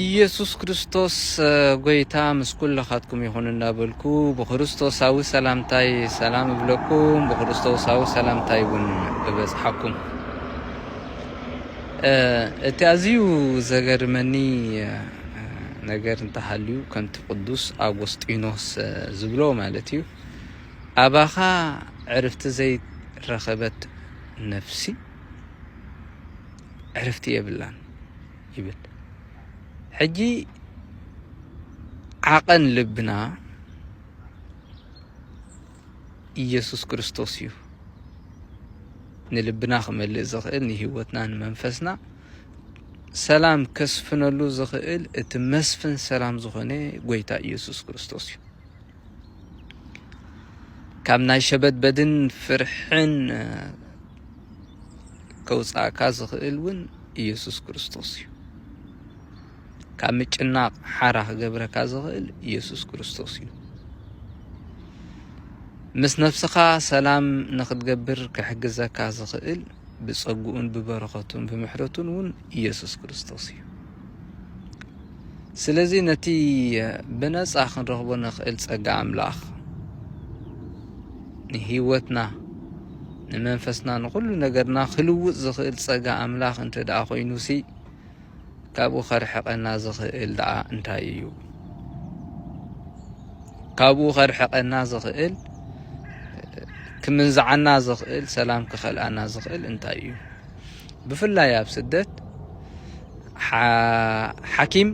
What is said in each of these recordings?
ኢየሱስ ክርስቶስ ጎይታ ምስ ኩልኻትኩም ይኹን እናበልኩ ብክርስቶሳዊ ሰላምታይ ሰላም እብለኩም ብክርስቶሳዊ ሰላምታይ እውን እበጽሓኩም እቲ ኣዝዩ ዘገርመኒ ነገር እንተሃልዩ ከምቲ ቅዱስ ኣጐስጢኖስ ዝብሎ ማለት እዩ ኣባኻ ዕርፍቲ ዘይረኸበት ነፍሲ ዕርፍቲ የብላን ይብል ሕጂ ዓቐን ልብና ኢየሱስ ክርስቶስ እዩ ንልብና ክመልእ ዝኽእል ንህይወትና ንመንፈስና ሰላም ከስፍነሉ ዝኽእል እቲ መስፍን ሰላም ዝኾነ ጎይታ ኢየሱስ ክርስቶስ እዩ። ካብ ናይ ሸበድበድን ፍርሕን ከውፃእካ ዝኽእል እውን ኢየሱስ ክርስቶስ እዩ ካብ ምጭናቕ ሓራ ክገብረካ ዝኽእል ኢየሱስ ክርስቶስ እዩ ምስ ነፍስኻ ሰላም ንክትገብር ክሕግዘካ ዝኽእል ብጸግኡን ብበረኸቱን ብምሕረቱን እውን ኢየሱስ ክርስቶስ እዩ ስለዚ ነቲ ብነጻ ክንረኽቦ ንኽእል ጸጋ ኣምላኽ ንህይወትና ንመንፈስና ንኹሉ ነገርና ክልውጥ ዝኽእል ጸጋ ኣምላኽ እንተ ደኣ ኮይኑሲ ካብኡ ከርሕቐና ዝኽእል ደኣ እንታይ እዩ? ካብኡ ከርሕቐና ዝኽእል ክምንዝዓና ዝኽእል ሰላም ክኸልኣና ዝኽእል እንታይ እዩ ብፍላይ ኣብ ስደት ሓኪም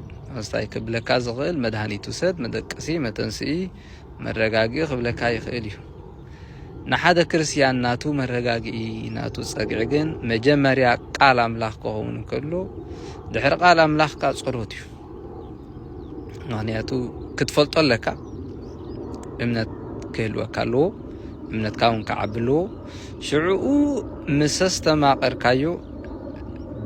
ስታይ ክብለካ ዝኽእል መድሃኒት ውሰድ መደቀሲ መተንስኢ መረጋግኢ ክብለካ ይኽእል እዩ። ንሓደ ክርስትያን ናቱ መረጋግኢ ናቱ ጸግዒ ግን መጀመርያ ቃል ኣምላኽ ክኸውን እንከሎ ድሕሪ ቃል ኣምላኽ ካ ጸሎት እዩ። ምክንያቱ ክትፈልጦ ኣለካ እምነት ክህልወካ ኣለዎ እምነትካ እውን ክዓቢ ኣለዎ ሽዕኡ ምስ ኣስተማቐርካዮ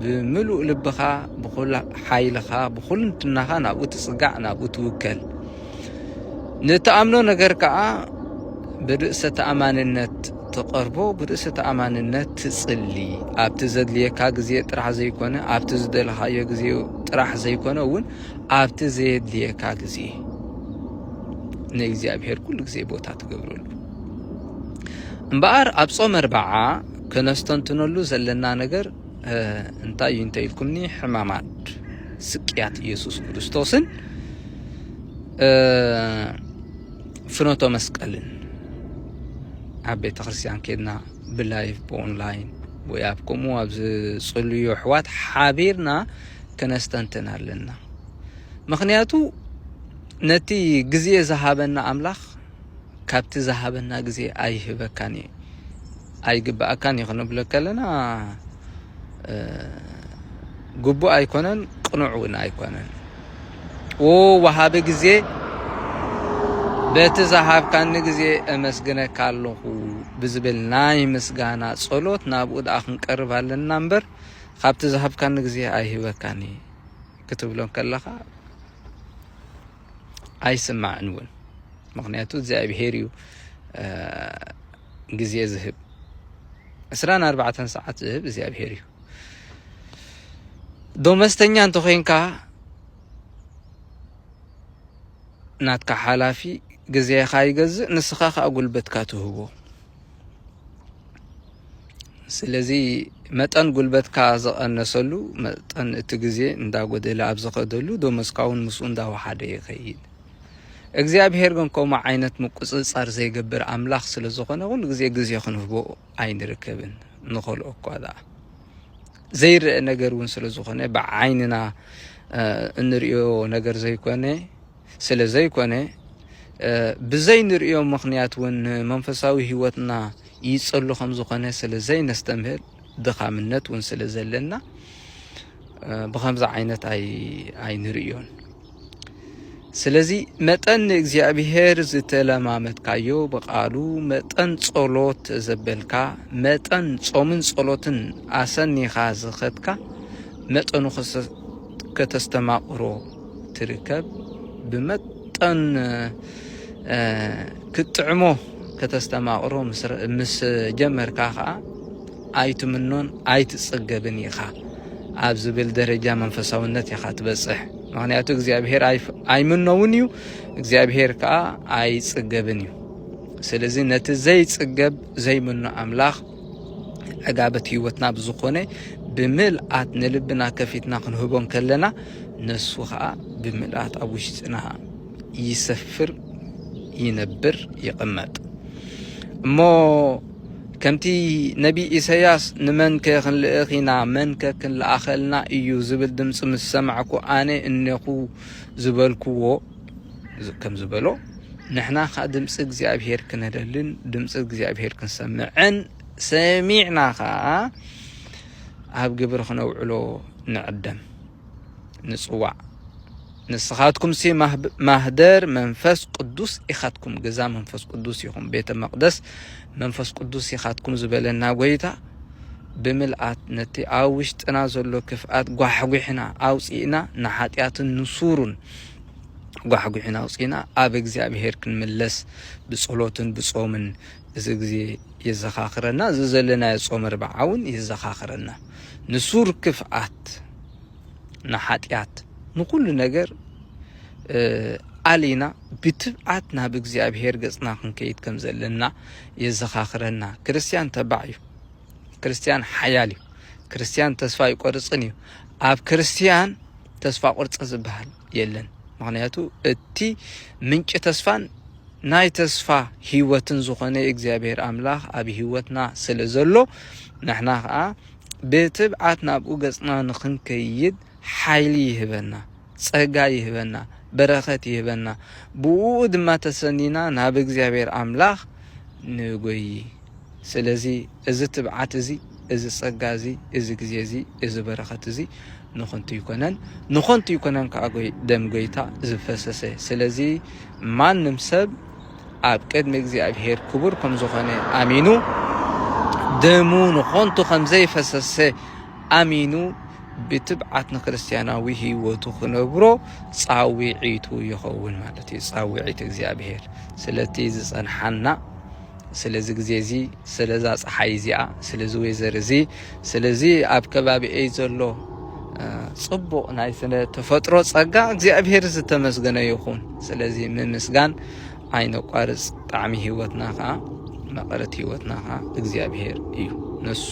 ብምሉእ ልብኻ ብኩሉ ሓይልኻ ብኩልንትናኻ ናብኡ ትጽጋዕ ናብኡ ትውከል ንትኣምኖ ነገር ከዓ ብርእሰ ተኣማንነት ትቐርቦ ብርእሰ ተኣማንነት ትጽሊ ኣብቲ ዘድልየካ ግዜ ጥራሕ ዘይኮነ ኣብቲ ዝደለኻዮ ግዜ ጥራሕ ዘይኮነ እውን ኣብቲ ዘየድልየካ ግዜ ንእግዚኣብሔር ኩሉ ግዜ ቦታ ትገብረሉ እምበኣር ኣብ ጾም ኣርባዓ ከነስተንትነሉ ዘለና ነገር እንታይ እዩ እንተ ኢልኩምኒ ሕማማት ስቅያት ኢየሱስ ክርስቶስን ፍኖተ መስቀልን ኣብ ቤተ ክርስቲያን ኬድና ብላይፍ ብኦንላይን ወይ ኣብ ከምኡ ኣብ ዝጽልዩ ኣሕዋት ሓቢርና ከነስተንትን ኣለና። ምክንያቱ ነቲ ግዜ ዝሃበና ኣምላኽ ካብቲ ዝሃበና ግዜ ኣይህበካን እዩ። ኣይግበኣካን እዩ ክንብለካ ከለና ግቡእ ኣይኮነን ቅኑዕ እውን ኣይኮነን ወሃቢ ግዜ በቲ ዝሃብካኒ ግዜ እመስግነካ ኣለኹ ብዝብል ናይ ምስጋና ጸሎት ናብኡ ደኣ ክንቀርብ ኣለና እምበር ካብቲ ዝሃብካኒ ግዜ ኣይህበካን እየ ክትብሎ ከለኻ ኣይስማዕን እውን ምክንያቱ እግዚኣብሄር እዩ ግዜ ዝህብ ዕስራን ኣርባዕተን ሰዓት ዝህብ እግዚኣብሄር እዩ። ዶመስተኛ እንተኾይንካ ናትካ ሓላፊ ግዜኻ ይገዝእ፣ ንስኻ ከዓ ጉልበትካ ትህቦ። ስለዚ መጠን ጉልበትካ ዝቐነሰሉ መጠን እቲ ግዜ እንዳጎደለ ኣብ ዝኸደሉ ዶመስካ እውን ምስኡ እንዳወሓደ ይኸይድ። እግዚኣብሄር ግን ከምኡ ዓይነት ምቁጽጻር ዘይገብር ኣምላኽ ስለ ዝኾነ ኩሉ ግዜ ግዜ ክንህቦ ኣይንርከብን ንኸልኦ እኳ ደኣ ዘይረአ ነገር እውን ስለ ዝኾነ ብዓይንና እንርእዮ ነገር ዘይኮነ ስለ ዘይኮነ ብዘይንርእዮ ምኽንያት እውን መንፈሳዊ ህይወትና ይጸሉ ከም ዝኾነ ስለ ዘይነስተምህር ድኻምነት እውን ስለ ዘለና ብከምዚ ዓይነት ኣይንርእዮን ስለዚ መጠን ንእግዚኣብሔር ዝተለማመትካዮ ብቃሉ መጠን ጸሎት ዘበልካ መጠን ጾምን ጸሎትን ኣሰኒኻ ዝኸትካ መጠኑ ከተስተማቕሮ ትርከብ ብመጠን ክትጥዕሞ ከተስተማቕሮ ምስ ጀመርካ ኸዓ ኣይትምኖን ኣይትጸገብን ኢኻ ኣብ ዝብል ደረጃ መንፈሳውነት ኢኻ ትበጽሕ ምክንያቱ እግዚኣብሄር ኣይምኖውን እዩ እግዚኣብሄር ከዓ ኣይጽገብን እዩ ስለዚ ነቲ ዘይጽገብ ዘይምኖ ኣምላኽ ዕጋበት ህይወትና ብዝኾነ ብምልኣት ንልብና ከፊትና ክንህቦ ከለና ነሱ ከዓ ብምልኣት ኣብ ውሽጥና ይሰፍር ይነብር ይቕመጥ እሞ ከምቲ ነቢይ ኢሰያስ ንመንከ ክንልእኽ ኢና መንከ ክንልኣኸልና እዩ ዝብል ድምፂ ምስ ሰማዕኩ ኣነ እኔኹ ዝበልክዎ ከም ዝበሎ ንሕና ከ ድምፂ እግዚኣብሄር ክነደልን ድምፂ እግዚኣብሄር ክንሰምዕን ሰሚዕና ከዓ ኣብ ግብሪ ክነውዕሎ ንዕደም። ንጽዋዕ ንስኻትኩምሲ ማህደር መንፈስ ቅዱስ ኢኻትኩም ገዛ መንፈስ ቅዱስ ኢኹም ቤተ መቅደስ መንፈስ ቅዱስ ኢኻትኩም ዝበለና ጎይታ ብምልኣት ነቲ ኣብ ውሽጥና ዘሎ ክፍኣት ጓሕጒሕና ኣውፂእና ንሓጢኣትን ንሱሩን ጓሕጒሕና ኣውፂእና ኣብ እግዚኣብሄር ክንምለስ ብጸሎትን ብጾምን እዚ ግዜ የዘኻኽረና፣ እዚ ዘለናዮ ጾመ ኣርብዓ እውን የዘኻኽረና። ንሱር ክፍኣት፣ ንሓጢኣት፣ ንኹሉ ነገር ኣሊና ብትብዓት ናብ እግዚኣብሔር ገጽና ክንከይድ ከም ዘለና የዘኻኽረና። ክርስትያን ተባዕ እዩ። ክርስትያን ሓያል እዩ። ክርስትያን ተስፋ ይቆርጽን እዩ። ኣብ ክርስትያን ተስፋ ቁርጽ ዝበሃል የለን ምክንያቱ እቲ ምንጪ ተስፋን ናይ ተስፋ ህይወትን ዝኾነ እግዚኣብሔር ኣምላኽ ኣብ ህይወትና ስለ ዘሎ ንሕና ከዓ ብትብዓት ናብኡ ገጽና ንክንከይድ ሓይሊ ይህበና ጸጋ ይህበና በረኸት ይህበና ብኡ ድማ ተሰኒና ናብ እግዚኣብሔር ኣምላኽ ንጎይ ስለዚ እዚ ትብዓት እዚ፣ እዚ ጸጋ እዚ፣ እዚ ግዜ እዚ፣ እዚ በረኸት እዚ ንኸንቱ ኣይኮነን፣ ንኸንቱ ኣይኮነን ከኣ ደም ጎይታ ዝፈሰሰ። ስለዚ ማንም ሰብ ኣብ ቅድሚ እግዚኣብሄር ክቡር ከም ዝኾነ ኣሚኑ ደሙ ንኸንቱ ከም ዘይፈሰሰ ኣሚኑ ብትብዓት ንክርስትያናዊ ህይወቱ ክነብሮ ጻውዒቱ ይኸውን ማለት እዩ፣ ጻውዒት እግዚኣብሄር ስለቲ ዝጸንሓና ስለዚ ግዜ እዚ ስለዛ ፀሓይ እዚኣ ስለዚ ወይዘር እዚ ስለዚ ኣብ ከባቢኤ ዘሎ ፅቡቕ ናይ ስነ ተፈጥሮ ፀጋ እግዚኣብሄር ዝተመስገነ ይኹን ስለዚ ምምስጋን ኣይነቋርፅ ጣዕሚ ህይወትና ከዓ መቐረት ህይወትና ከዓ እግዚኣብሄር እዩ ነሱ